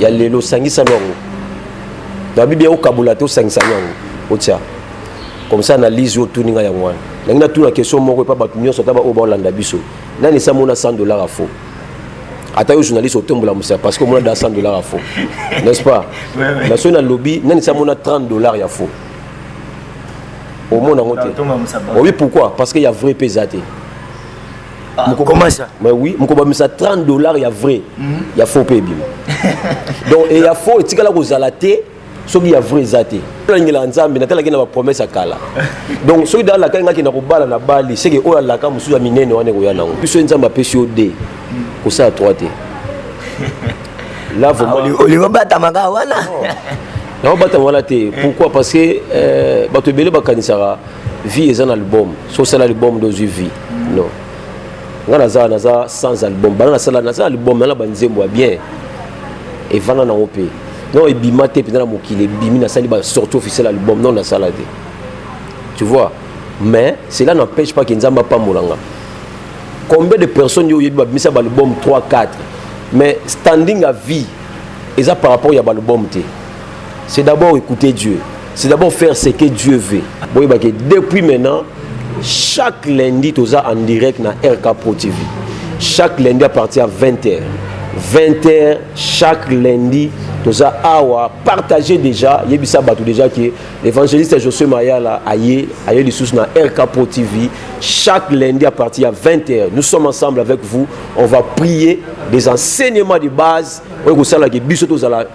ya lelo sangisa lwango na bibi yakokabola te osangisa lwango otia comme ça analyse oyo tuni ngai yango wana nangi natuna question moko epa bato nyonso ata baoyo baolanda biso nani esi amona 100 dollar ya faux ata yo journaliste otombola mosaka parce que omona da 100 dollar ya faux n'est ce pas na soki nalobi nani esi amona 30 dollar ya faux omona yango te oyebi pourquoi parce que ya vrai mpe eza te mais oui mokobamisa 30 dollars ya vrai mhm. ya faux mpe ebima donc e ya faux etikala kozala te soki ya vrai eza te nalangelaka nzambe natalaki na bapromese ya kala donc soki da alakaki ngaki na kobala na bali seke oyo alaka mosusu ya minene wana ekoya nango biso ye nzambe apesi yo de mhm. kosala trois te olingo batamaka wana naobatama wana te pourquoi parce que euh, bato ebele bakanisaka vie eza na album so osala album nde ozwi vie non nga naza naza sans album bana nasala naza album nana banzembo ya bien evanda nango mpe non ebima te mpenza na mokili ebimi nasali ba sorti officiel album non nasala te tu vois mais cela n'empêche pas que nzambe apambola nga combien de personnes yo oyebi babimisa baalbum 3 4 mais standing à vie eza par rapport ya baalbum te c'est d'abord écouter dieu c'est d'abord faire ce que Dieu veut boyeba que depuis maintenant chaque lundi toza en direct na RK Pro TV chaque lundi à partir ya 20h 20h chaque lundi toza awa partager déjà yebisa bato déjà que l'évangéliste Josué Mayala aye aye lisusu na RK Pro TV chaque lundi à partir ya 20h nous sommes ensemble avec vous on va prier des enseignements de base oyo kosala ke biso tozala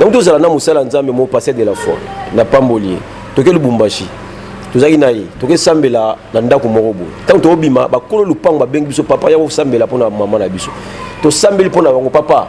yango tozala na mosala nzambe mo passer de la foi na pamboli ye toke lubumbashi tozalaki na ye tokesambela na ndako moko boye ntango tokobima bakolo lupango babengi biso papa ya kosambela mpo na mama na biso tosambeli mpo na bango papa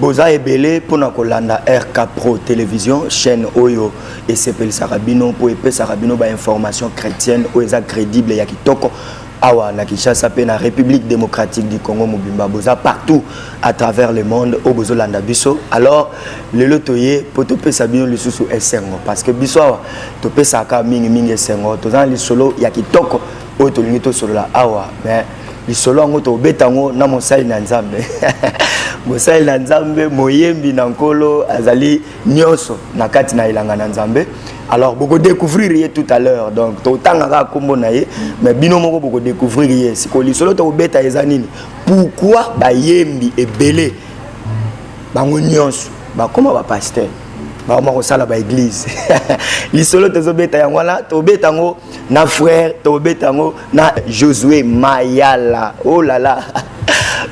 boza ebele mpo na kolanda rk pro television chaîne oyo esepelisaka bino mpo epesaka bino bainformation chrétienne oyo eza crédible ya kitoko awa na kinshasa mpe na république démocratique du congo mobimba boza partout à travers le monde oyo bozolanda biso alors lelo toye mpo topesa bino lisusu esengo parce que biso awa topesaka mingimingi esengo toza na lisolo ya kitoko oyo tolingi tosolola awa mais lisolo yango tobeta yango na mosali na nzambe mosali na nzambe moyembi na nkolo azali nyonso na kati na elanga na nzambe alors bokodécouvrir ye tout à l'heure donc totangaka nkombo na ye mais bino moko bokodécouvrir ye sikoyo lisolo tokobeta eza nini pourkui bayembi ebele bango nyonso bakoma bapaster bakoma kosala baeglize lisolo tozobeta yango wana tobeta yango na frère tobeta yango na josue mayala oh là là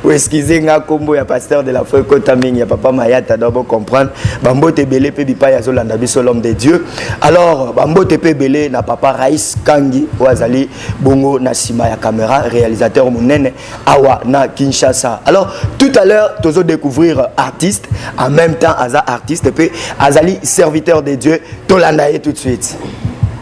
oeskize nga nkombo ya pasteur de la foi ekota mingi ya papa mayata do bocomprendre bambote ebele mpe bipai azolanda biso l'homme de dieu alors bambote mpe ebele na papa rais kangi oyo azali bongo na nsima ya camera réalisateur monene awa na kinshasa alors tout à l'heure tozo découvrir artiste en même temps aza artiste mpe azali serviteur de dieu tolanda ye tout de suite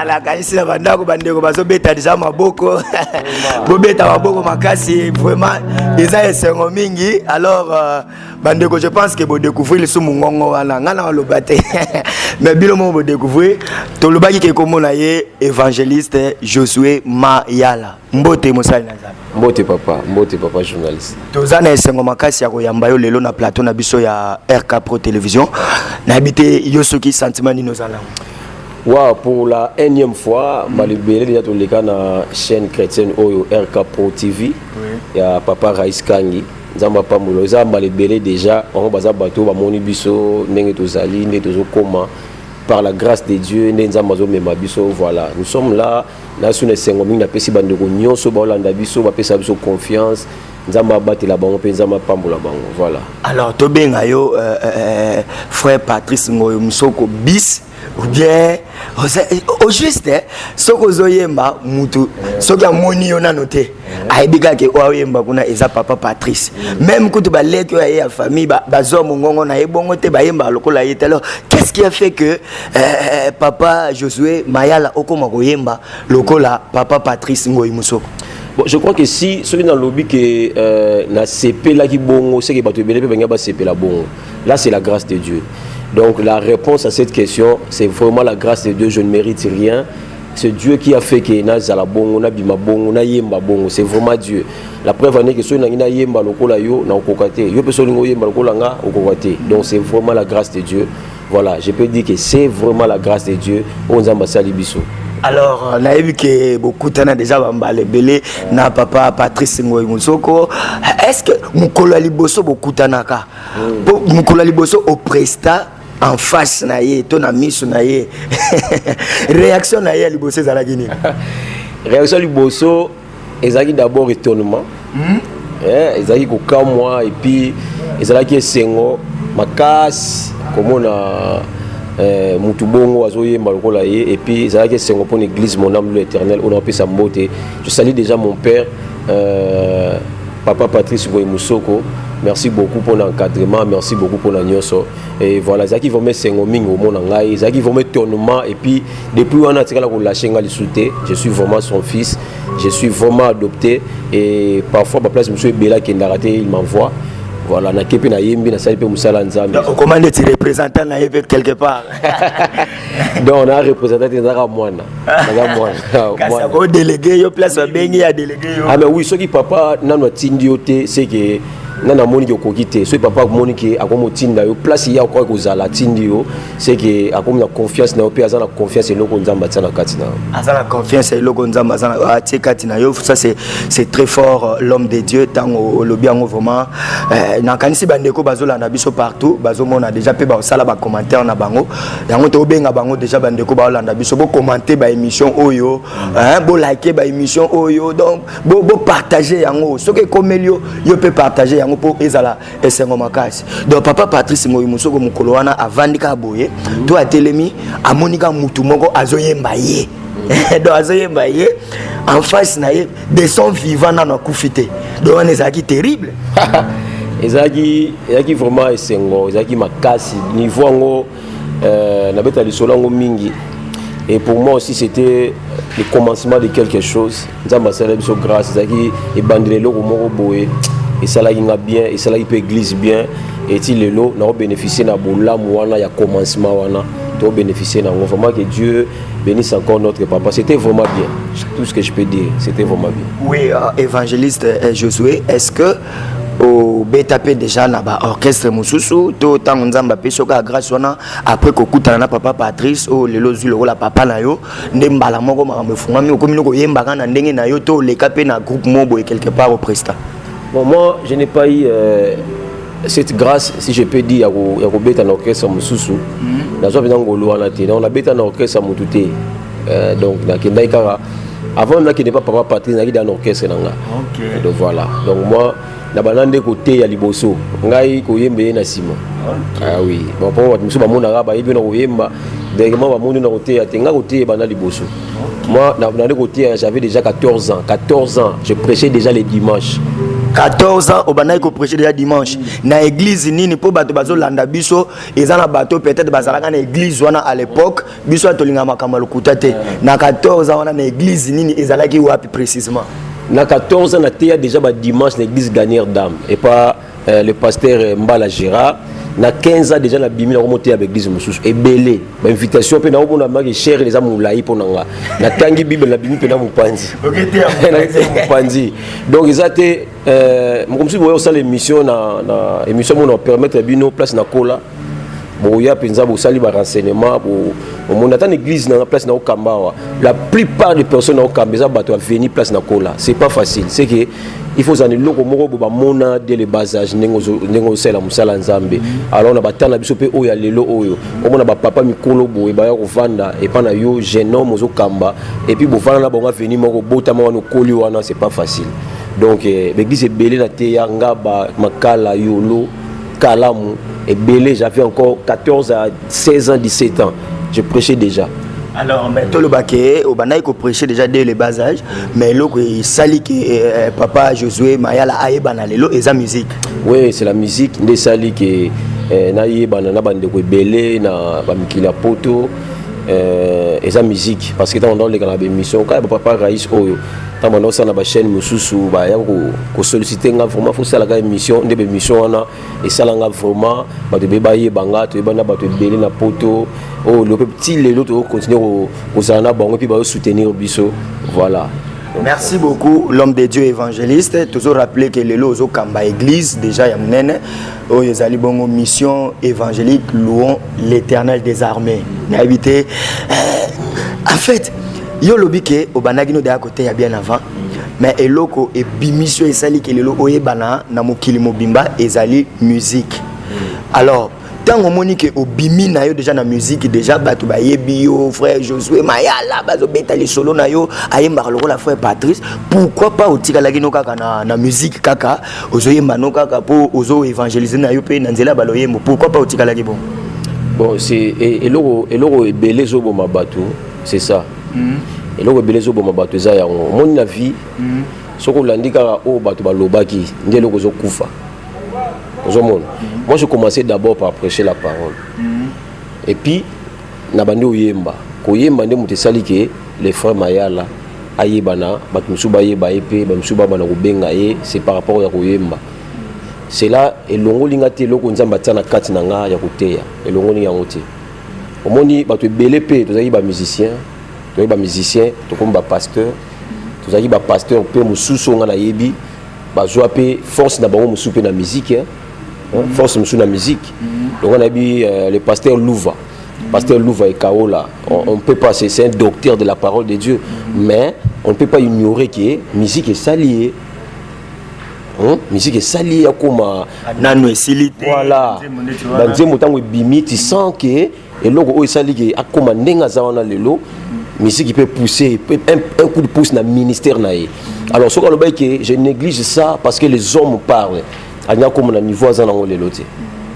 alakanisi na bandako bandeko bazobeta deja maboko bobeta maboko makasi vraiment eza esengo mingi alors euh, bandeko je pense que bodécouvrir lisumu ngongo wana ngai nakoloba te mais bino moko bodécouvrir tolobaki ke komona ye évangéliste josué mayala mbote mosali na nzambe mbote papa mbote papa journaliste toza na esengo makasi ya koyamba yo lelo na plateau na biso ya rk pro télévision nayebi te yo soki sentiment nini oza nango wa pour la énième fois mbala ebele deja toleka na chaîne chrétienne oyo rk pro tv ya papa rais kangi nzambe apambola eza mbala ebele deja bango baza bato oyo bamoni biso ndenge tozali nde tozokoma par la grâce de dieu nde nzambe azomema biso voilà nous sommes là nasu na esengo mingi napesi bandeko nyonso baolanda biso bapesa biso confiance nzambe abatela bango mpe nzambe apambola bango voilà alors tobenga yo euh, euh, euh frère patrice ngoyo mosoko bis ou bien au juste eh, soki ozoyemba mutu soki amoni yo nano te ayebi kaka oyo aoyemba kuna eza papa patrice meme kutu baleki oyo aye ya famille bazwa mongongo na ye bongo te bayembaka lokola ye te alors qu'est ce qui a fait que euh, euh papa josué mayala okoma koyemba lokola papa patrice ngoi mosoko Bon, je crois que si soki nalobi ke euh, nasepelaki bongo seke bato ebele mpe balingi basepela bongo là c'est la grâce de dieu donc la réponse à cette question c'est vraiment la grâce de dieu je ne mérite rien c'est Dieu qui a fait que nazala bongo nabima bongo nayemba bongo c'est vraiment Dieu la preuve en est que soki nangi nayemba lokola yo nakokoka te yo mpe soki olingi oyemba lokola nga okokoka te donc c'est vraiment la grâce de Dieu voilà je peux dire que c'est vraiment la grâce de Dieu oyo nzambe asali biso alors euh, nayebi ke bokutana deja bambala ebele na papa patrice ngoi mosoko est ce que mokolo ya liboso bokutanaka mokolo ya liboso opresta en face na ye to na miso na ye réaction na ye ya liboso ezalaki nini réaction liboso ezalaki d'abord étonnement hmm? eh, ezalaki kokamwa epuis ezalaki esengo makasi komona eh, mutu bongo azoyemba lokola ye epuis ezalaki esengo mpo na église mon âme lo éternel oyo napesa mbote je sali déjà mon père euh, Papa Patrice Boye Musoko, merci beaucoup pour l'encadrement, merci beaucoup pour la nyoso. Et voilà, Zaki vraiment sengo mingi au monde ngai, Zaki vraiment tournement et puis depuis on a tika la relâche ngali souté, je suis vraiment son fils, je suis vraiment adopté et parfois ma place monsieur Bella qui est raté, il m'envoie. voilà nakepe nayembi nasali mpe mosala nzambe okomande ti représentant na ye mpe quelque part donc na representante ezaka mwana naza mwana o delege yo place babengi ya delege yo ah mais oui soki papa nanu atindi yo te seke nga namoni ke okoki te soki papa akomoni ke akomi otinda yo place ye akoki kozala atindi yo seke akomi na confiance na yo mpe aza na confiance eloko nzambe atia na kati na yo aza na confiance ya eloko nzambe atie kati na yo ça c'est très fort euh, l'homme de dieu ntango olobi yango vraiment euh, nakanisi bandeko bazolanda biso partout bazomona déjà mpe basala bacommentaire na bango yango tobenga bango deja bandeko baolanda biso bocommente baémission oyo bolike baémission oyo donc bopartage yango soki ekomeli yo yo mpe partage yango mpo ezala esengo makasi donc papa patrice moyi mosoko mokolo wana avandi kaka boye to atelemi amoni kaka motu moko azoyemba ye donc azoyemba ye en face na ye de son vivant nano akufi te donc wana ezalaki terrible ezalaki ezalaki vraiment esengo ezalaki makasi niveau yango euh, nabeta lisolo yango mingi et pour moi aussi c'était le commencement de quelque chose nzambe asalaki biso grâce ezalaki ebandela eloko moko boye esalaki nga bien esalaki mpe église bien eti lelo nakobénéficie na bolamu wana ya commencement wana tobénéficie na yango vraiment que dieu Bénisse encore notre papa. C'était vraiment bien. Tout ce que je peux dire, c'était vraiment bien. Oui, euh, évangéliste euh, Josué, est-ce que au BTP déjà na ba orchestre mususu to tango nzamba pe soka grâce wana après ko kutana na papa Patrice o lelo zui lokola papa na yo nde mbala moko makambo efungami okomi no koyembaka na ndenge na yo to leka pe na groupe mobo et quelque part au prestat Bon, moi, je n'ai pas eu euh, cette grâce, si je peux dire, il y a Kobeta na orchestre Moussousou. Mm-hmm. Nazwa bina ngolo wana te. Donc, na beta na orchestre mutu te. Euh, donc, na kendai kaka. Avant, na kende pas papa Patrice, na kende na orchestre na nga. Okay. Donc, voilà. Donc, moi, na bana nde koteya liboso ngai koyemba ye na nsima ah oui bapo bato mosusu bamonaka bayebi na koyemba directement bamoni na koteya te ngai koteya bana liboso Moi, dans le côté, hein, j'avais déjà 14 ans. 14 ans, je prêchais déjà les dimanches. 14 ans obandaki koprêche déjà dimanche na église nini mpo bato bazolanda biso eza na bato peut-être bazalaka na église wana à l'époque biso ya tolinga makambo ya lokuta te na 14 ans wana na église nini ezalaki wapi précisément na 14 ans nateya déjà badimanche na église gagnere dame epa Euh, le pasteur euh, Mbala Gérard na 15 ans déjà nabimi na komote ya baeglise mosusu ebele bainvitation mpe naomona maki chere eza molai mpo na nga natangi bible nabimi mpe na mopanzi mopanzi donc eza te euh, mokomosusu boya kosala émission na émission mona permettre bino place na kola boya mpenza bosali ba renseignement omoni ata na église na place na okamba awa la plupart des personnes na okamba eza bato ya veni place na kola c'est pas facile c'est que il faut ozala eloko moko bo bamona de le bas age ndenge osalela mosala nzambe alors na batala biso mpe oyo ya lelo oyo omona bapapa mikolo boye baya kovanda epai na yo jeune homme ozokamba epuis bovanda na bango aveni moko obotama wana okoli wana c'est pas facile donc eh, baeglise ebele na teya ngaba makala yolo kalamu ebele j'avais encore 14 à 16 ans 17 ans je prêchais déjà alors mais toloba ke obandaki koprêche déjà dès le bas âge mais eloko esali ke euh, papa josué mayala ayebana lelo eza musique oui c'est la musique nde esali ke eh, nayebana na bandeko ebele na bamikili ya poto eh, eza musique parce que ntango ndalekana baémission kaka bapapa rais oyo ntango banda kosala na bachaîne mosusu baya kosollicite nga vraiment fosalaka émission nde baémission wana esala nga vraiment bato ebe bayeba nga toyeba na bato ebele na poto oyo oh, lope ti lelo tokocontinue kozala na bango mpe bayosoutenir biso voilà merci beaucoup l'homme de dieu évangéliste toujours rappeler que lelo ozokamba église déjà ya monene oyo ezali bongo mission évangélique louons l'éternel des armées nayebi te eh, en fait yo olobi ke obandaki no deya koteya bien avant mais eloko ebimisi oyo esali ke lelo oyebana na mokili mobimba ezali musique alors ntango omoni ke obimi na yo deja na miziki deja bato bayebi yo frère josue mayala bazobeta lisolo na yo ayembaka lokola frère patrice pourquoi pas otikalaki no kaka na, na miziki kaka ozoyemba no kaka mpo ozo évangélise na yo mpe na nzela ya baloyembo pourquoi pas otikalaki bon bon c'est e, eloko eloko ebele ezoboma bato c'est ça mm-hmm. eloko ebele ezoboma bato eza yango omoni na vie mm-hmm. soki olandi kaka oyo bato balobaki nde eloko ozokufa ozomona mm-hmm. moi je commençais d'abord par prêcher la parole et puis na bandi oyemba koyemba nde moto esali ke le frère mayala ayebana bato mosusu bayeba ye mpe bamosusu babana kobenga ye c'est par rapport ya koyemba cela elongoli nga te eloko nzambe atia na kati na nga ya koteya elongoli yango te omoni bato ebele mpe tozalaki bamusicien tozalaki bamusicien tokomi bapasteur tozalaki bapasteur mpe mosusu oyo nga nayebi bazwa mpe force na bango mosusu mpe na musike hein, mhm. force mosusu na musique longo nayebi euh, le pasteur louva pasteur louva ekaola on ne peut pas c'est un docteur de la parole de dieu mais on ne peut pas ignorer que musique esali ye Hein? musique esali ye akóma nano esili te voilà banzembo ntango ebimi ti sans ke eloko oyo esali ke akóma ndenge aza wana lelo musique peut pousser un, un coup de pouce na ministère na ye alors soki alobaki ke je néglige ça parce que les hommes parlent alingi akoma na niveau aza nango lelo te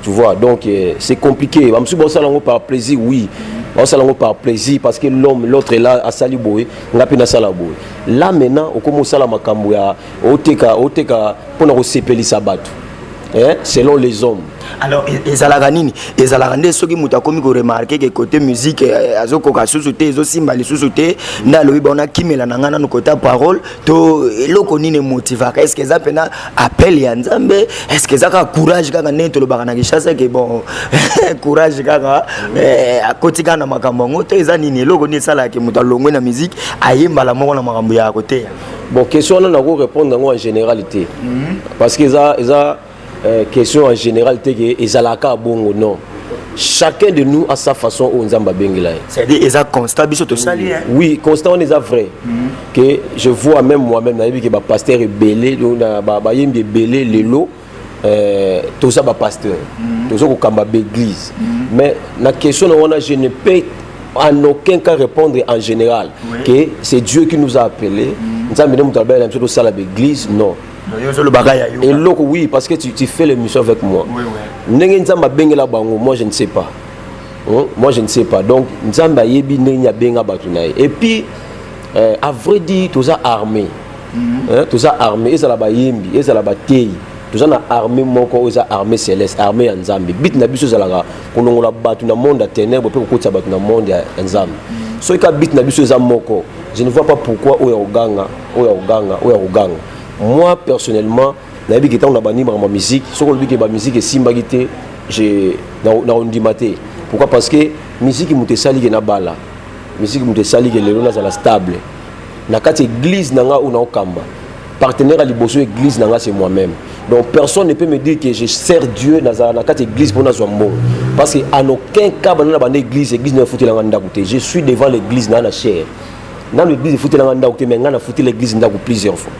tu vois donc euh, c'est compliqué bamosusu baosala yango par plaisir oui baosala yango par plaisir parce que l'homme l'autre ela asali boye nga mpe nasala boye là maintenant okomi osala makambo ya oteka oteka mpo na kosepelisa bato eh, selon les hommes alors e, ezalaka nini ezalaka nde soki moto akomi koremarke ke kote musike eh, azokoka lisusu te ezosimba lisusu te nde alobi baona kimela na ngai nano kota parole to eloko nini emotivaka est ce que eza mpena appel ya nzambe est ce que eza kaka courage kaka ndenge tolobaka na kinshasa ke bon courage kaka eh, akoti kaka na makambo yango to eza nini eloko nini esalaka ke moto alongwe na miziki aye mbala moko na makambo ya koteya bon question wana nako répondre yango en général te mhm. parce que eza eza Euh, question en général te ke ezalaka bongo non chacun de nous a sa façon oyo nzambe abengela ye c'est-à-dire eza constat biso tosali oui constat wana eza vrai mhm. que je vois même moi-même nayebi ke bapaster ebele bayembi ebele lelo euh, toza bapasteur mhm. toza kokamba baeglise mhm. mais na question na wana je ne peux en aucun cas répondre en général que c'est dieu qui nous a appelé nzambe nde moto alobela na biso tosala baeglise non eloko oui parce que tu, tu fais l'émission avec moi oui, oui. ndenge nzambe abengela bango moi je ne sais pas hein? moi je ne sais pas donc nzambe ayebi ndenge abenga bato na ye et puis euh, à vrai dire toza armé mm -hmm. hein? toza armé ezala bayembi ezala bateyi toza na armée moko oyo eza armée céleste armée ya nzambe bit na biso ezalaka kolongola bato na monde ya ténèbre mpe kokotisa bato na monde ya nzambe mm. soki kaka bit na biso eza moko je ne vois pas pourquoi oyo ya koganga oyo akoganga oyo akoganga moi personnellement nayebi ke ntango na bandi makambo ya miziki soki olobi ke bamiziki esimbaki te nakondima te pourquoi parce que miziki moto esali ke nabala miziki moto esali ke lelo nazala stable na kati église na ngai oyo naokamba partenaire ya liboso église na ngai c'est moi-même donc personne ne peut me dire que je sers dieu nazala na kati église mpo nazwa mbongo parce que en aucun cas banda na banda église église nayo efutela ngai ndako te je suis devant l'église na na chaire nanu église efutela nga ndako te mais nga nafutela église ndako plusieurs fois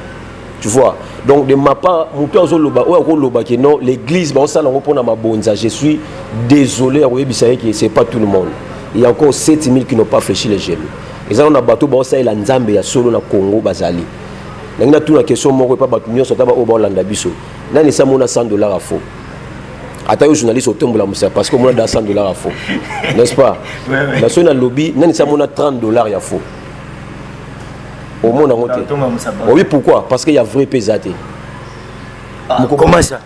tu vois donc de ma part moto azoloba oyo akoloba ke non l'église baosala yango mpona mabonza je suis désolé ya koyebisa ye ke c'est pas tout le monde il y a encore 7000 qui n'ont pas fléchi les genoux eza nano na bato baosalela nzambe ya solo na congo bazali nangi natuna question moko epa bato nyonso ata baoyo baolanda biso nani esi amona 100 dollar ya faux ata yo journaliste otombola mosaka parce que omona da 100 dollars ya faux n'est ce pas na soki nalobi nani si amona 30 dollars ya faux omona yango te oyebi pourquoi parce que ya vrai mpe eza te ah,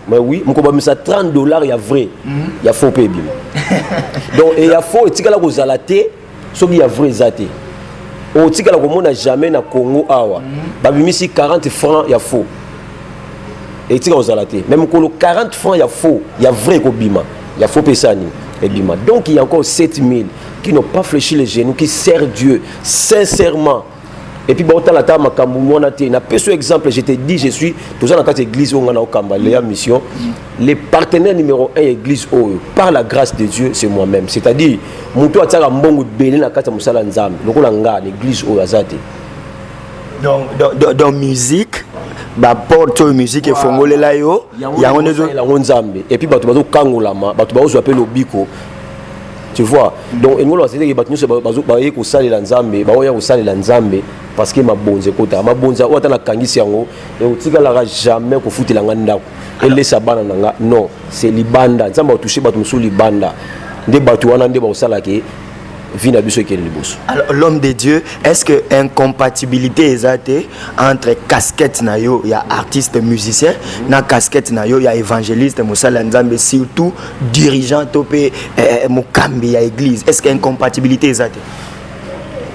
mais oui mokobamisa 30 dollars ya vrai mhm. ya faux mpe ebima donc ya faux etikala kozala te soki ya vrai eza te otikala komona jamais na congo awa babimisi 40 francs ya faux etika kozala te me mokolo 40 francs ya faux ya vrai ekobima ya faux pesa nini ebima donc il y a encore 7000 qui n'ont pas fléchi les genoux qui servent dieu sincèrement et puis baotala ata makambo mwana te na peso exemple je te dis je suis toza na kati ya église oyo ngai naokamba leya mission le partenaire numéro 1 ya église oyo par la grâce de dieu c'est moi-même c'est à dire moto atiaka mbongo ebele na kati ya mosala ya nzambe lokola ngai na église oyo aza te dans musique baporte oyo musike efongolela yo yango ndeyango nzambe epuis bato bazokangolama bato baozwa mpe lobiko tu vois donc engolo azeleke bato nyonso baye kosalela nzambe baoya kosalela nzambe parce que mabonzi ekotaka mabonzi oyo ata nakangisi yango ekotikalaka jamais kofutela ngai ndako elesa bana na ngai non c'est libanda nzambe aotouche bato mosusu libanda nde bato wana nde bakosala ke vie na biso ekende liboso l'homme de dieu est ce que incompatibilité eza te entre casquette na yo ya artiste musicien na casquette na yo ya évangéliste mosala ya nzambe surtout dirigeant to mpe eh, mokambi ya église est ce que incompatibilité eza te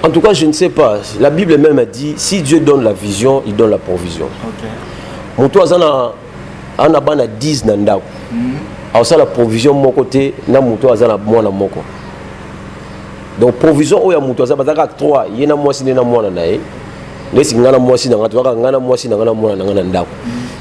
en tout cas je ne sais pas la bible même a dit si dieu donne la vision il donne la provision moto aza na ana bana 10 na ndako mhm. akosala provision moko te na moto aza na mwana moko donc provision oyo ya moto aza bazalaka 3 ye na mwasi nde na mwana na ye ndesi ngai na mwasi na ngai tozalaka ngai na mwasi na ngai na mwana na ngai na ndako mhm.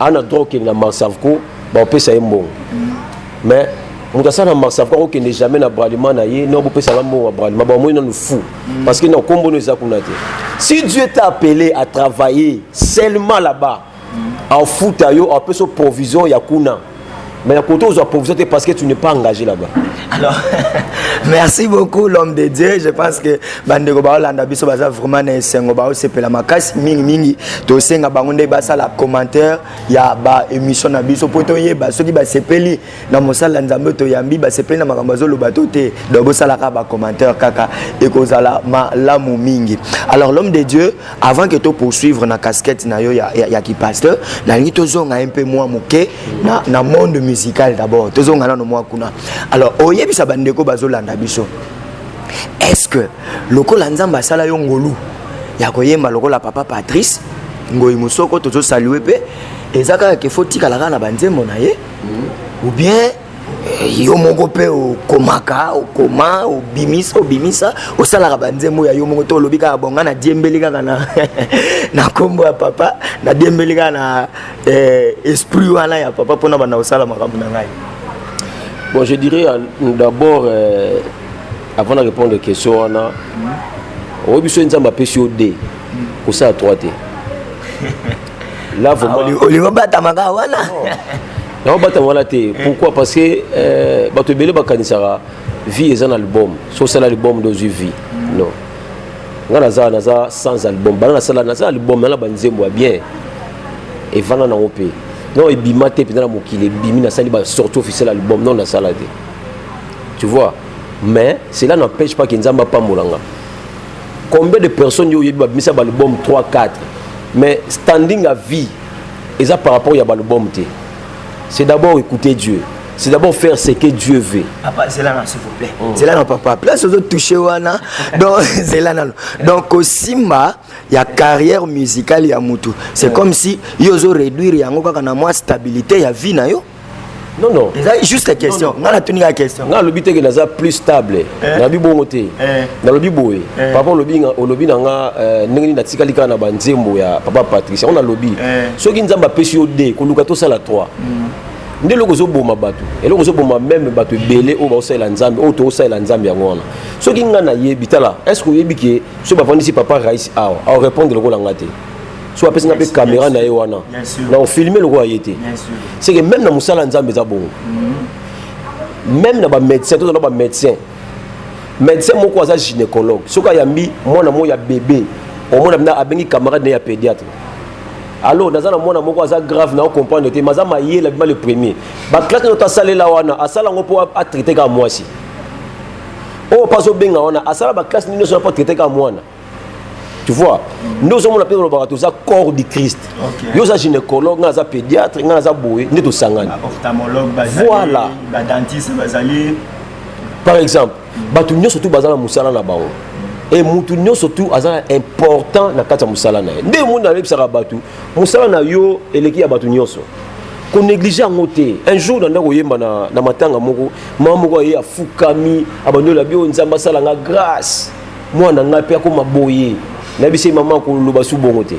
ana droit okende na marsavco baopesa ye mbongo mais moto asala na marsavco akokende jamais na bralima na ye no bopesaka mbongo ya bralima bamoni nanu fou mm. parce que na nkombo no eza kuna te si dieu t'a appelé à travailler seulement là-bas mm. afuta yo apesa provision ya kuna Mais à côté, vous avez provision parce que tu n'es pas engagé là-bas. Alors, merci beaucoup l'homme de Dieu. Je pense que bandeko ba Hollanda biso baza vraiment na esengo ba osepela makasi mingi mingi to senga bango nde basa la commentaire ya ba émission na biso poto yeba soki ba sepeli na mosala nzambe to yambi ba sepeli na makambo zo loba to te donc bosala ka ba commentaire kaka ekozala malamu mingi. Alors l'homme de Dieu avant que to poursuivre na casquette na yo ya, ya, ya ki pasteur nalingi tozonga ye mpe mwa moke na, na monde musical d'abord tozonga nano mwa kuna alors oyebisa bandeko bazolanda biso est ce que lokola nzambe asala yo ngolu ya koyemba lokola papa patrice ngoi mosoko tozosalue mpe eza kaka ke fo tikala kaka na banzembo na ye mm. ou bien yo moko mpe okomaka okoma obimisa obimisa osalaka banzembo ya yo moko to olobi kaka bonga na diembeli kaka na na nkombo ya papa na diembeli kaka na eh, esprit wana ya papa mpona banda kosala makambo na ngai bon je dirais euh, d'abord euh, avant na répondre question wana oyo biso nzambe apesi yo de kosala trois te là vraiment ah, olingo batamaka wana yango batanga wana te eh. pourquoi parce que euh, bato ebele bakanisaka vie eza na album so osala album nde ozwi vie non nga naza naza sans album bana nasala naza album nana banzembo ya bien evanda nango mpe non ebima te mpenza na mokili ebimi nasali basorti officiel album non nasala te tu vois mais cela n'empêche pas ke nzambe apambola nga combien de personnes yo oyebi babimisa baalbum 3 4 mais standing à vie eza par rapport ya balbum te c'est d'abord écouter dieu c'est d'abord faire ce que dieu veut papa zela na s'il vous plaît mm. zela na papa place ozo toucher wana donc zela nano donc kosimba ya carrière musicale ya mutu c'est mm. comme si yo ozo réduire yango kaka na mwa stabilité ya vie na yo non non eza juste question nga natuni nga question nga alobi teke naza plus stable eh. nalobi bongo te eh. nalobi boye eh. papa olobi olobi na nga ndenge nini natikali kaka na banzembo ya papa patricia yango nalobi soki nzambe apesi yo de koluka tosala 3 mm. nde eloko ozoboma bato eloko ozoboma meme bato ebele oyo baosalela nzambe oyo tokosalela nzambe yango wana soki nga nayebi tala est ce que oyebi ke soki bafandisi papa rais awa aorepondre lokola nga te so apesi nga mpe kamera na ye wana na ofilme lokola ye te seke meme na mosala ya nzambe eza bongo mm-hmm. meme na bamédecin tozala bamédecin médecin moko aza gynécologue soki ayambi mwana moko ya bebe omona bina abengi camarade na ye ya pédiatre alors naza na mwana moko aza grave na ocomprendre te maza mayela bima le premier baklasse na yoto asalela wana asala yango mpo atraite kaka mwasi oyo mpo azobenga wana asala baklasse nini nyonso na mpo atraite kaka mwana tu vois nde ozomona mpe olobaka toza corps du christ yo oza gynécologue ngai aza pédiatre ngai aza boye nde tosangani voilà par exemple bato nyonso tu baza na mosala na bango e motu nyonso tu aza important na kati ya mosala na ye nde omoni nayebisaka bato mosala na yo eleki ya bato nyonso konéglige yango te un jour nanda koyemba na, na matanga moko mama moko aye afukami abandoli ya bio nzambe asala nga grâce mwana ngai mpe akoma boye nayebisi ye mama akoloba su bongo te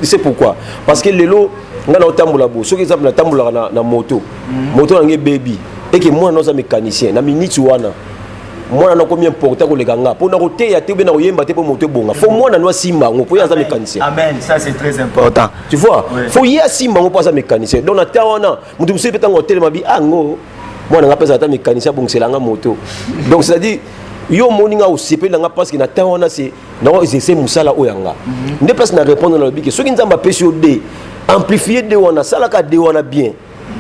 c'est pourquoi parce que lelo ngai naotambola bo soki exemple natambolaka na, na moto mm. moto nange ebebi eke mwana naoza mécanicien na miniti wana mwana nakomi importe koleka nga mpo nakoteya te mpe nakoyemba te mpo moto ebonga fo mwana no asimba yango mpo ye aza mécanicien tu vois fo ye asimba yango mpo aza mécanicien donc na temps wana moto mosusu mpe ntango otelema bi ango ah, mwana nga apesa ata mekanisi abongisela nga moto donc c'est à dire yo omoni nga osepeli na nga parce que na temps wana se nao exerce mosala oyo yanga mhm. nde place na répondre na lobi ke soki nzambe apesi yo de amplifie de wana asalaka de wana bien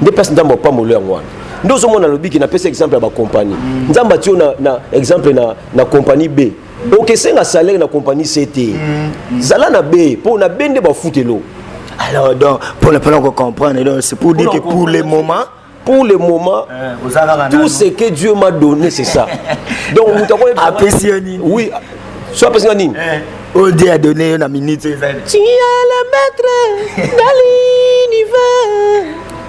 nde place nzambe opamolo yango wana nde ozomona alobi ke napesi exemple ya bacompagnie mhm. nzambe atio na, na exemple na, na compagnie b okesenga salaire na compagnie se te mm. zala na be mpo na be nde bafutelo alors donc pour le plan comprendre donc c'est pour dire que pour le moment pour le moment eh, tout ce que Dieu m'a donné c'est ça donc vous t'avez apprécié oui soit parce que nini eh. oh Dieu a donné une minute tu es le maître de l'univers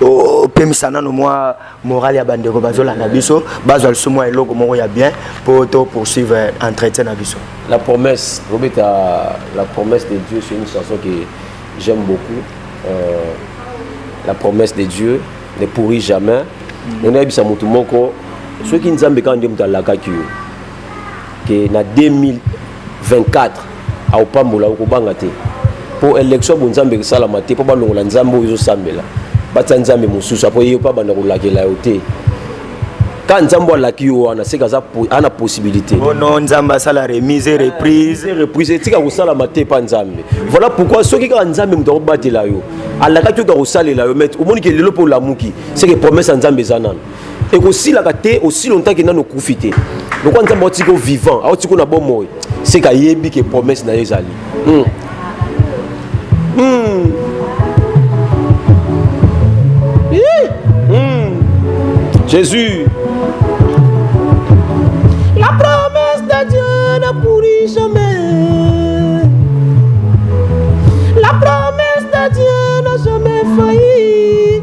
opemisa nano mwa morale ya bandeko bazolanda biso bazwa lisusu mwa eloko moko ya bien mpo to poursuivre entretien na biso la promesse robeta la promesse de dieu c'est une chanson que j'aime beaucoup euh, la promesse de dieu ne pourrit jamais ndenge nayebisa motu moko soki nzambe kaka nde moto alakaki yo ke na 2000 24 akopambola okobanga te mpo election ya bonzambe esalama te mpo balongola nzambe oyo ezosambela batya nzambe mosusu apo ye mpe abanda kolakela yo te ka nzambe alaki yo wana seke aza ana possibilité ono nzambe asala remise reprise ah, reprise etika kosalama te mpa nzambe voilà pourquoi soki kaka nzambe moto akobatela yo alakaki oto akosalela yo mete omoni ke lelo mpe olamuki seke promesse ya nzambe eza nano ekosilaka te osi longtemps ke nano okufi te lokola nzambe aotiki o vivant aotiki na bomoi seke ayebi ke promesse na ye ezali mm. Mm. Mm. jésus la promesse de dieu ne pourrit jamais la promesse de dieu n'a jamais failli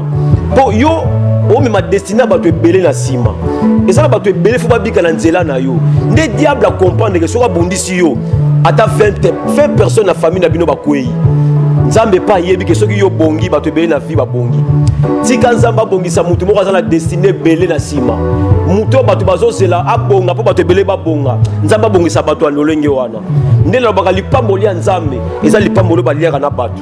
mpo yo omema destine ya bato ebele na nsima eza na bato ebele fo babika na nzela na yo nde diable akomprendre ke soki abundisi yo ata 20 personne na famille na bino bakwei nzambe epai ayebi ke soki yo bongi bato ebele na vie babongi tika nzambe abongisa moto moko aza na destine ebele na nsima moto oyo bato bazozela abonga mpo bato ebele babonga nzambe abongisa bato ya lolenge wana nde nalobaka lipamboli ya nzambe eza lipamboli oyo baliaka na bato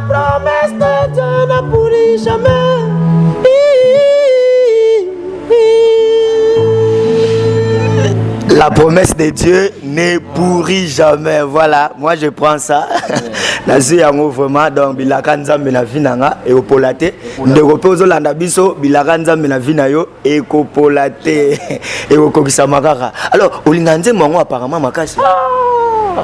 Promesse de Dieu ne pourrit jamais. La promesse de Dieu ne pourrit jamais. Voilà, moi je prends ça. nazwi yango vraiment donc bilaka nzambe na vi na nga ekopola te ndeko mpe ozolanda biso bilaka nzambe na vi na yo ekopola te ekokokisama kaka alors olinga nzembo yango apparemment makasi ah!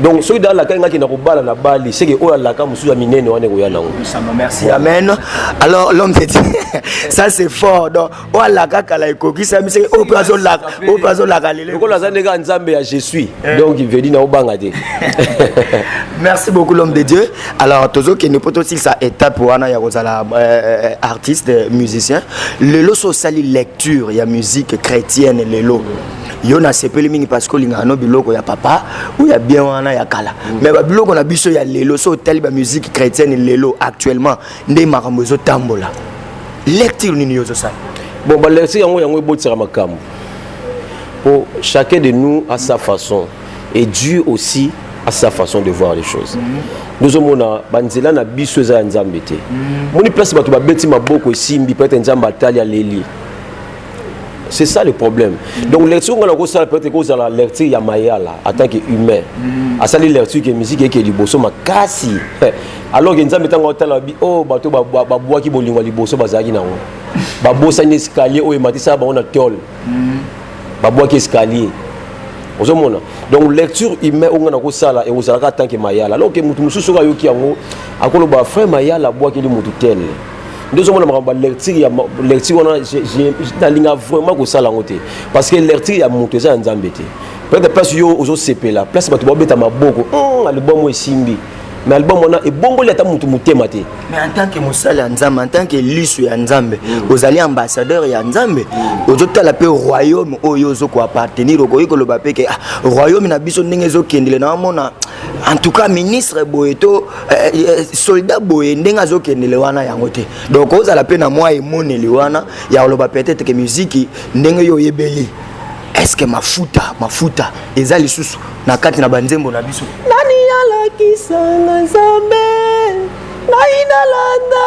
donc soki da alakaki ngaki na kobala na bali seke oyo alaka mosusu ya minene wana ekoya nango merci amen alors l'homme te dit ça c'est fort donc oyo alaka kala ekokisami seke oyo mpe azolaka oyo mpe azolaka lelo lokola aza ndenge ya nzambe ya je suis eh. donc vedi na obanga te merci beaucoup l'homme de dieu alors tozokende mpo tosilisa étape wana ya kozala euh, euh, artiste musicien lelo so osali lecture ya musique chrétienne lelo yo nasepeli mingi parce que olingaka no biloko ya papa ou ya bien wana ya kala mm. mais babiloko na biso ya lelo so otali bamusike chrétienne lelo actuellement nde makambo ezotambola lecture nini yo ozosala bon balecture yango yango ebotisaka makambo mpo chacun de nous a sa façon et dieu aussi a sa façon de voir les choses mm. tozomona banzela na biso eza ya nzambe te mm. moni place bato babeti maboko esimbi peut-être nzambe atali aleli c'est ça le problème donc lecture nga nakosala peut-être ekozala lecture ya mayala en tant que humain mm. asali lecture ke musique eke liboso makasi alors ke nzambe ntango otala bi o oh, bato babwaki bolingo ya liboso bazalaki nango babosani escalier oyo ematisaka bango na tole mm. babwaki escalier ozomona donc lecture humain oyo nga nakosala ekozalaka en tant que mayala alors ke moto mosusu oyo ayoki yango akoloba frère mayala abwakeli moto tele nde ozomona makambo balecture ya lecture wana nalinga vraiment kosala yango te parce que lecture ya moto eza ya nzambe te peut-être place yo ozosepela place bato babeta maboko hmm, alibomo esimbi mais album wana ebongoli ata motu motema te mais en tant que mosali ya nzambe en tant que liso ya nzambe mm. ozali ambassadeur ya nzambe mm. ozotala mpe royaume oyo ozo koappartenir okoki koloba mpe ke ah, royaume na biso ndenge ezokendele na omona en tout cas ministre boye to Eh, eh, eh, soldat boye ndenge azokendele wana yango te donc ozala mpe na mwa emoneli wana ya koloba peut-être ke miziki ndenge yo oyebeli eske mafuta mafuta eza lisusu na kati na banzembo na biso nani alakisanga nzambe ngai nalanda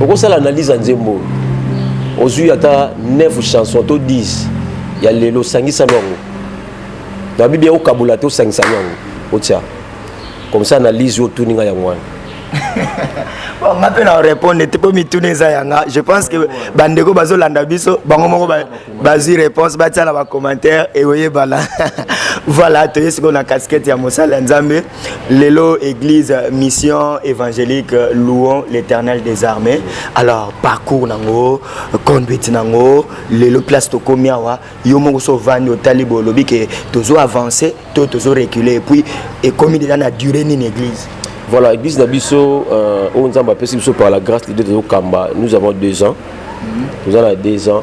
okosala analyse ya nzembo oyo ozwi ata 9 chanson to 10 ya lelo osangisami yango na bibi okokabola te osangisami yango otya comme ça analyse oyo otuni ngai yango wana bon nga mpe na orépondre te mpo mituna eza yanga je pense que bandeko bazolanda biso bango moko bazwi réponse batia na bacommentaire eoyebana voilà toye sikoyo na casquette ya mosala ya nzambe Lelo église mission évangélique louons l'éternel des armées alors parcours nango conduite nango lelo place tokomi awa yo moko so ovandi otali boye olobi ke tozo avance to tozo recule epuis ekomi deja na durée nini église voilà église na biso euh, oyo nzambe apesi biso par la grâce lide tozokamba nous avons deux ans mhm. toza na deux ans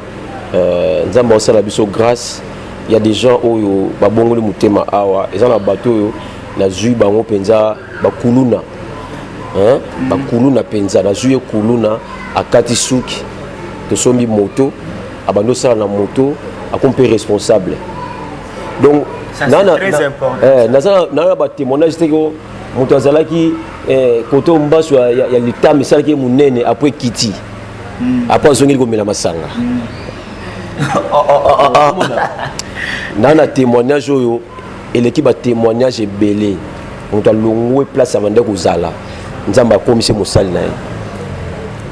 euh, nzambe aosala biso grâce Il y a des gens oyo babongoli mutema awa eza na bato oyo nazwi bango mpenza bakuluna hein? bakuluna mpenza nazwi ye kuluna akati suki tosombi moto abandi osala na moto akomi mpe responsable donc eh, naza na batémoignage te ko moto azalaki eh, koto mbaso ya litama esalaki ye monene apres ekiti hmm. apres azongeli komela masanga hmm. oh, oh, oh, oh. na na témoignage oyo eleki batémoignage ebele moto alongwe place abande kozala nzambe akomisi mosali na ye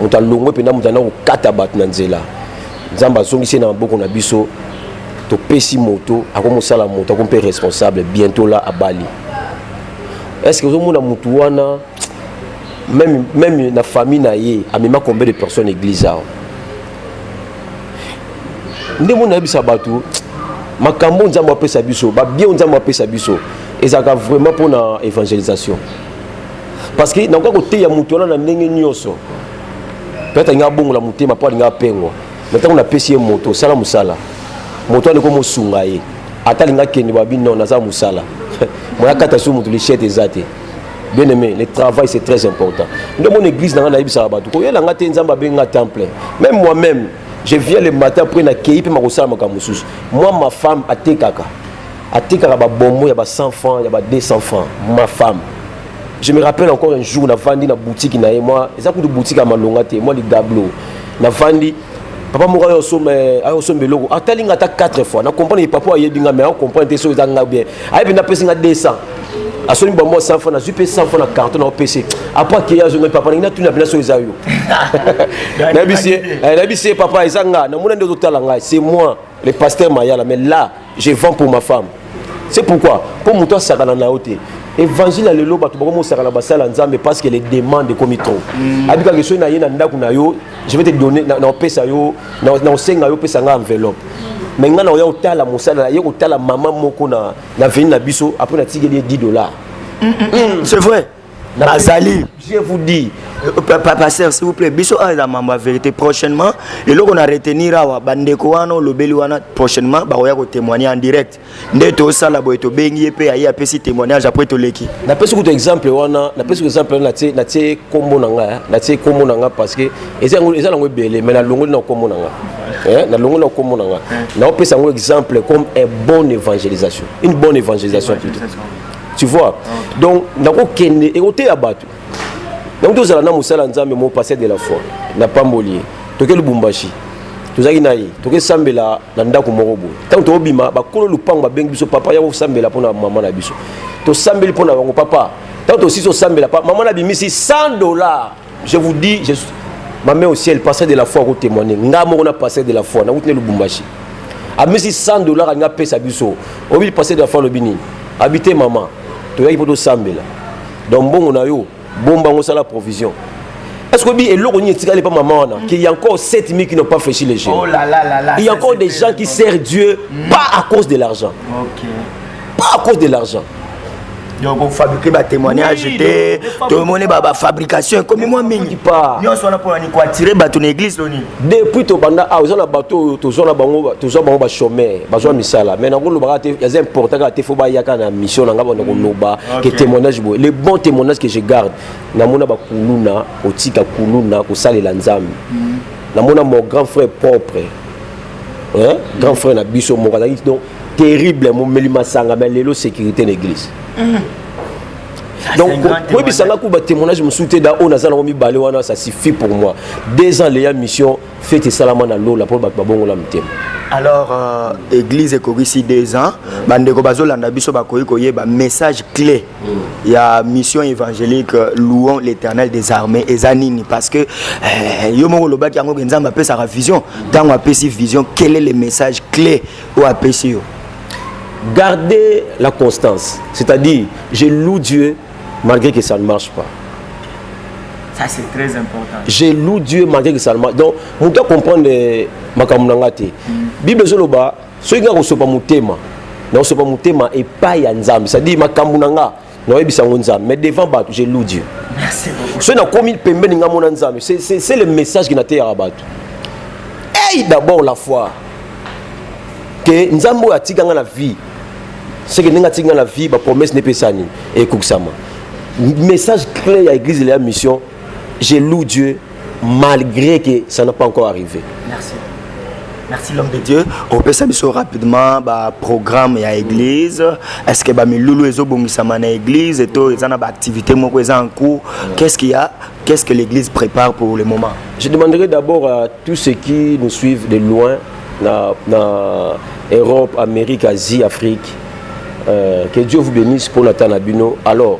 moto alongwe mpenza moto anda kokata bato na nzela nzambe azongisi na maboko na biso topesi moto akomosala moto ako mpe responsable bientôt la abali est ce que ozomona motu wana même, même na famille na ye amema combien de personnes église awa nde moni nayebisa bato makambo oyo nzambe apesa biso babien oyo nzambe apesa biso ezalaka vraiment mpona évangélisation parce que nakoka koteya moto wana na ndenge nyonso peut-être alingi abongola motema mpo alingi apengwa na ntango napesi ye moto osala mosala moto wana ekomosunga ye ata alingi akende babi non naza mosala moya kata su moto lishete eza te bien aimé le travail c'est très important nde mon église nanga nayebisaka bato koyela nga te nzambe abengi nga temps plein même moi même je viens le matin après nakei mpe makosala makambo mosusu moi ma femme atekaka atekaka babombo ya ba 100 francs ya ba 200 francs ma femme je me rappelle encore un jour navandi na boutique na ye moi eza kutu boutique ya malonga te moi ligablo navandi papa moko ayo osomba ayo osomba eloko atali nga ata 4 fois na comprendre ye papa ayebi nga mais ako comprendre te soki eza nga bien ayebi na pesi nga 200 asoni bamwa 100 francs nazwi mpe 100 francs na carton na opc apres akei azongai papa nangi natuni na bina soki eza yo nayebisi ye papa eza nga namona nde ozotala ngai c'est moi le pasteur mayala mais là je vends pour ma femme c'est pourquoi mpo moto asakana na yo te évangile ya lelo bato bakomi osakana basala nzambe parce que les demandes ekomi trop mm. abikaka esoki na ye na ndako na yo je vais te donner na opesa yo na osenga yo opesa ngai enveloppe mais ngai na oya kotala mosala ye kotala mama moko na veni na biso apres natikeli ye 10 dollars mm, mm, c'est vrai azali je vous dis euh, euh, papa sœur s'il vous plaît biso awa eza mambo ya vérité prochainement eloko na retenir awa bandeko wana olobeli wana prochainement bakoya kotémoigne en direct nde tosala boye tobengi ye mpe aye apesi témoignage apres toleki napesi kutu exemple wana napesi kutu exemple wana natie nkombo na ngai natie nkombo na ngai parce que eza nango ebele mais nalongoli na nkombo na ngai nalongoli na nkombo na ngai naopesa yango exemple comme un bon évangélisation une bonne évangélisation plutôt tu vois donc nakokende ekoteya bato donc tozala na mosala nzambe mo pasteur de la foi na pamboli ye toke lubumbashi tozalaki na ye tokesambela na ndako moko boye ntango tokobima bakolo lupango babengi biso papa ya kosambela mpo na mama na biso tosambeli mpo na bango papa ntango tosisi osambela mama na bimisi 100 dollar je vous dis je ma mère au ciel pasteur de la foi ko témoigner nga moko na pasteur de la foi na kutine lubumbashi amisi 100 dollars alingi apesa biso oyebi pasteur de la foi alobi nini abi te mama toyaki mpo tosambela donc mbongo na yo bomba yango osala provision est ce que oyebi eloko nini etikali mpa mama wana qu'il y a encore 7000 qui n'ont pas fléchi les jeux oh là là là là, il y a encore des gens qui servent dieu mm. pas à cause de l'argent okay. pas à cause de l'argent donc ofabrike batémoignage te tomoni bafabrication ekomi mwa mingi nyonso wana mpona nini koatire bato na église to nini depuis tobanda awa ah, eza na bato oyo tozwa na bango tozwa bango bachomeur bazwa misala mais nango olobaka te eza important kaka te fo bayaka na mission na ngai banda koloba ke témoignage boye le bon témoignage que je garde namona bakuluna kotika kuluna kosalela nzambe mm. namona mon grand frère propre grand frère na biso moko azalaki donc terrible momeli masanga mais lelo sécurité na église mm. donc koyebisa nga kuba témoignage mosusu te da oyo naza nango mibale wana ça suffit pour moi deux ans leya mission fete esalama na lola mpo bato babongola mitema alors euh, église ekokisi deux ans bandeko bazolanda biso bakoki koyeba message clé mm. ya mission évangélique euh, louons l'éternel des armées eza nini parce que euh, yo moko olobaki yango ke nzambe apesaka vision ntango apesi vision quel est le message clé oyo apesi yo garder la constance c'est-à-dire je loue Dieu malgré que ça ne marche pas ça c'est très important je loue Dieu malgré que ça ne marche donc moto acomprendre euh, makambo na nga te mm. bible ezoloba soki nga kosopa motema nakosopa motema epai ya nzambe c'est-à-dire makambo na nga nayebisa yango nzambe mais devant bato je loue dieu soki nakomi pembeni nga mona nzambe c'est le message ki nateyaka bato ey d'abord la foi ke nzambe oyo atika nga na vie seke ndenge atika nga na vie bapromesse nepesani ekokisama message clé ya église de la mission je loue dieu malgré que ça n'a pas encore arrivé merci merci l'homme de dieu opesa biso rapidement baprogramme ya église est ce que bamilulu ezobongisama na église to eza na baactivité moko eza en cours qu'est ce qu'il y a qu'est ce que l'église prépare pour le moment je demanderai d'abord à tous ceux qui nous suivent de loin na, na europe amérique asie afrique euh, que dieu vous bénisse mpo na ta na bino alors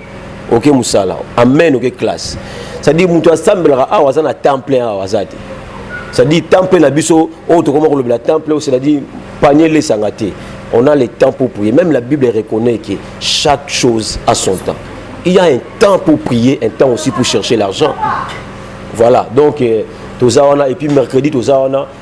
oke mosala amen oke classe cestadire moto asambelaka awa aza na temps plein awa aza te cestadire temps plein na biso oyo tokoma kolobela temps plein cestadire panie lesanga te on a le temps pour prier même la bible reconnaît que chaque chose a son temps il y a un temps pour prier un temps aussi pour chercher l'argent voilà donc euh, toza wana et puis mercredi toza wana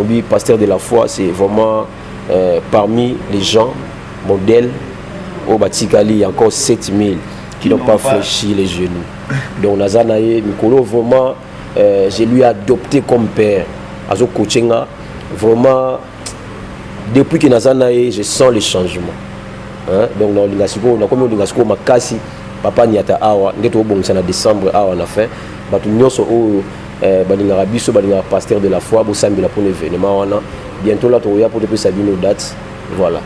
Obi pasteur de la foi c'est vraiment euh, parmi les gens modèles au Batikali encore 7000 qui n'ont pas fléchi les genoux. Donc Nazanaye Mikolo vraiment euh, je lui ai adopté comme père. Azo coachinga vraiment depuis que Nazanaye je sens le changement. Hein? Donc dans l'ingasiko na komi l'ingasiko makasi papa niata awa ndeto obongisa na décembre awa na fin batu nyoso oyo eh, balingaka biso balingaka pasteur de la foi bosambela mpona événement wana bientôt la tokoya mpo topesa bino date voilà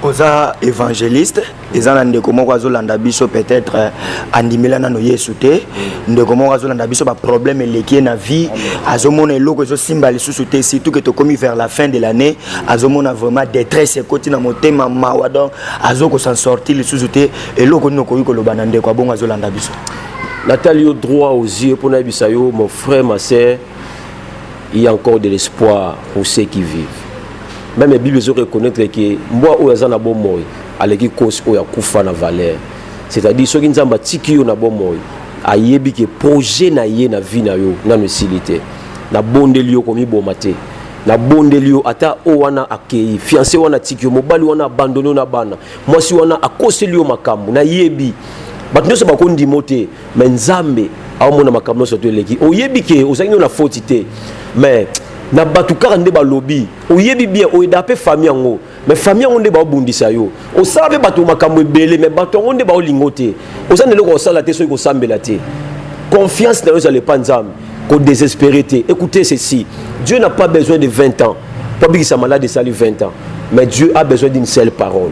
oza évangéliste eza na ndeko moko azolanda biso peut-être eh, andimela nano yesu te ndeko moko azolanda biso baproblème eleki ye na vie azomona eloko ezosimba lisusu te surtout ke tokomi vers la fin de l'année azomona vraiment détresse ekoti na motema mawa donc azokosan sorti lisusu te eloko nini okoki koloba na ndeko abongo azolanda biso natali yo droit aux yeux mpo nayebisa yo mon frère ma sœur il y a encore de l'espoir pour ceux qui vivent même la bible ezo reconnaître ke mbwa oyo aza na bomoi aleki kosi oyo akufa na valeur c'est-à-dire soki nzambe atiki yo na bomoi ayebi ke projet na ye na vie na yo nano esili te nabondeli yo komiboma te nabondeli yo ata oyo wana akei fianse wana atiki yo mobali wana abandoni yo na bana mwasi wana akoseli yo makambo nayebi bato nyonso bakondima o te me nzambe aomona makambo nyonso to eleki oyebi ke ozangi yo na foti te me na bato kaka nde balobi oyebi bien oyeda mpe fami yango me fami yango nde baobundisa yo osala mpe bato makambo ebele me bato yango nde baolingo te oza na eloko osala te soki kosambela te confiance na yo ezala epa nzambe kodesespere te écoutez ceci dieu n'a pas besoin de 20 ans mpo abikisa malade esali 20 ans mais dieu a besoin d'une seule parole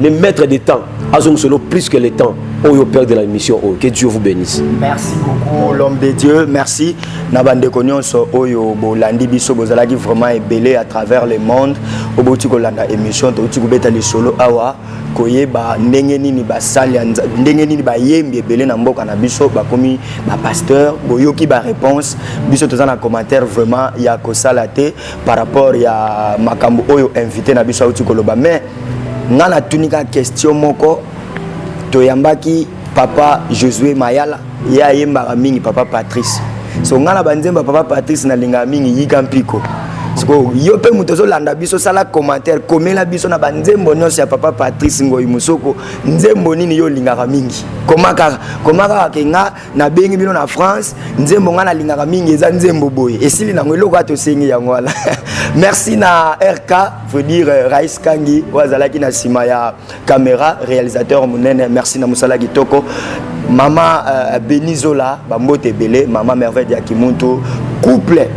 Le maître des temps, Azong Solo, plus que le temps, au oh, père de la émission, oh, que Dieu vous bénisse. Merci beaucoup, l'homme de Dieu. Merci. Nabande Konyonso, Oyo, oh, Bolandi Bisso, Bozalagi vraiment ébélé à travers le monde. Oboti Kolanda émission, Toti Koubeta les solo awa, Koyeba, Ndenge Nini Basali, Ndenge Nini Bayembi, ébélé na mboka na Bisso, Bakomi, ba pasteur, Boyoki, ba réponse, Bisso, Tozan un commentaire vraiment, ya Kosalate, par rapport ya Makambo Oyo, invité na Bisso, Oti Koloba, mais, nga natuni kaka question moko toyambaki papa josue mayala ye ayembaka mingi papa patrice so nga na banzemba papa patrice nalingaka mingi yika mpiko sikoyo yo mpe moto ozolanda biso sala commentaire komela biso na banzembo nyonso ya papa patrice ngoi mosoko nzembo nini yo olingaka mingi koma kaka koma kaka ke nga nabengi bino na france nzembo ngai nalingaka mingi eza nzembo boye esili nango eloko ya tosengi yango wana merci na rk faut dire euh, rais kangi oyo azalaki na nsima ya camera réalisateur monene merci na mosala kitoko mama euh, benizola bambote ebele mama merveille ya kimuntu couple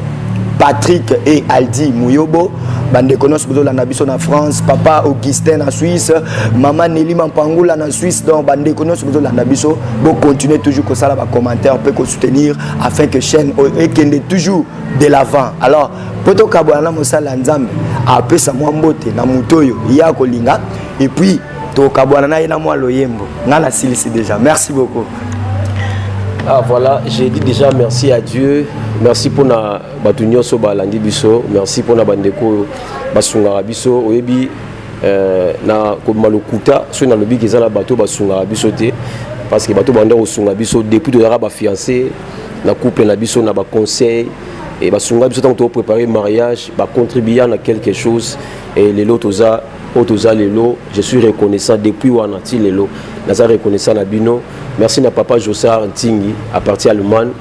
patrick et aldi muyobo bandeko nyonso bozolanda biso na france papa augustin na suisse mama neli mampangula na suisse donc bandeko nyonso bozolanda biso Bon, continuez toujours comme ça là, commentaire, peut qu'on soutenir afin que chaîne et qu'elle est toujours de l'avant. Alors, poto kabwana mosala nzambe apesa mwa mbote na moto oyo ye akolinga et puis tokabwana na ye na mwa loyembo ngai nasilisi déjà merci beaucoup ah voilà j'ai dit déjà merci à dieu merci mpona bato nyonso balandi biso merci mpona bandeko oyo basungaka biso oyebi Euh, na kobima lokuta soki nalobi ke eza na bato basungaka biso te parce que bato banda kosunga biso depuis tozalaka bafiance na couple na biso na baconseil e basunga biso ntango toprépare mariage bacontribuya na quelque chose e lelo toza oyo toza lelo je suis reconnaissant depuis wana ti lelo naza reconnaissant na bino merci na papa josar ntingi à partir allemagne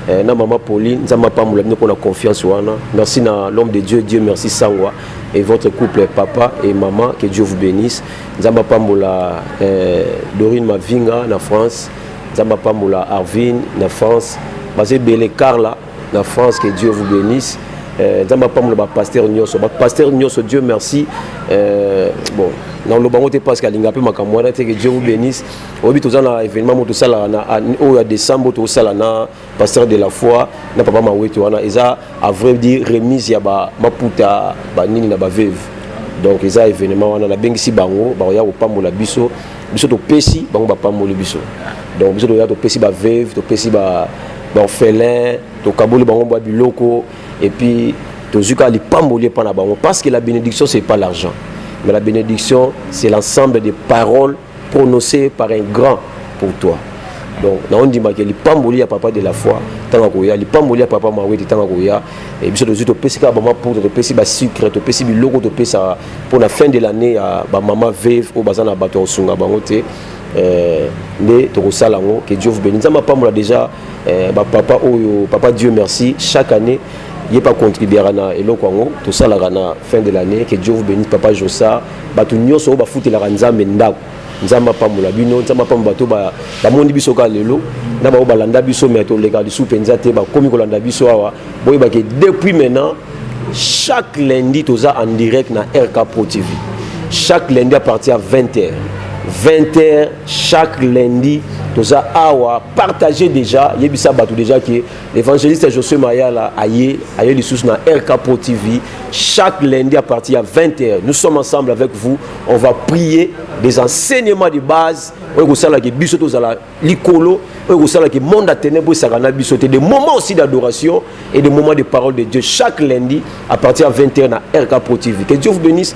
eh, na mama pauline nzambe apambola bino mpo na confiance wana merci na l'homme de dieu dieu merci sangwa et votre couple papa et maman que Dieu vous bénisse nzamba pambola euh, Dorine Mavinga na France nzamba pambola Arvin na France basé belé Carla na France que Dieu vous bénisse euh, nzamba pambola ba pasteur nyoso ba pasteur nyoso Dieu merci euh, bon na oloba ngo te parce que alinga pe makambo wana te que Dieu vous bénisse oyebi toza na événement mo tosala na oyo ya décembre tosala na pasteur de la foi na papa mawete wana eza à vrai dire remise ya ba maputa ba nini na ba veuve donc eza événement wana nabengisi bango bakoya kopambola biso biso topesi bango bapamboli biso donc biso toya topesi ba veuve topesi ba baorphelin tokaboli bango bwa biloko et puis tozwi kaka lipamboli epai na bango parce que la bénédiction c'est pas l'argent mais la bénédiction c'est l'ensemble des paroles prononcé par un grand pour toi donc naondimaka lipamboli ya papa de la foi ntango akoya lipamboli ya papa mawete ntango akoya eh, biso tozwi topesi kaka bamaputa topesi basucre topesi biloko topesaka mpo na fin de l'année ya bamama veve oyo baza na bato ya kosunga bango te eh, nde tokosala yango ke dieu vous beni nzambe apambola déjà eh, bapapa oyo papa dieu merci chaque année ye pa contribuera na eloko yango tosalaka na fin de l'année ke dieu vous benisse papa josa bato nyonso oyo bafutelaka nzambe ndako nzambe apambola bino nzambe apambola bato bamoni biso kaka lelo na bango balanda biso me toleka lisusu mpenza te bakomi kolanda biso awa boyebake depuis maintenant chaque lundi toza en direct na rk pro tv chaque lundi à partir ya 20 heures 20 heures chaque lundi toza awa partage déjà yebisa bato déjà ke Evangeliste Josue Mayala aye aye lisusu na RK Pro TV chaque lundi à partir de 20h. Nous sommes ensemble avec vous. On va prier des enseignements de base oyo kosalaki biso tozala likolo oyo kosalaki monde ya ténèbre esaka na biso te des moments aussi d'adoration et des moments de parole de Dieu chaque lundi à partir de 20h na RK Pro TV. Que Dieu vous bénisse.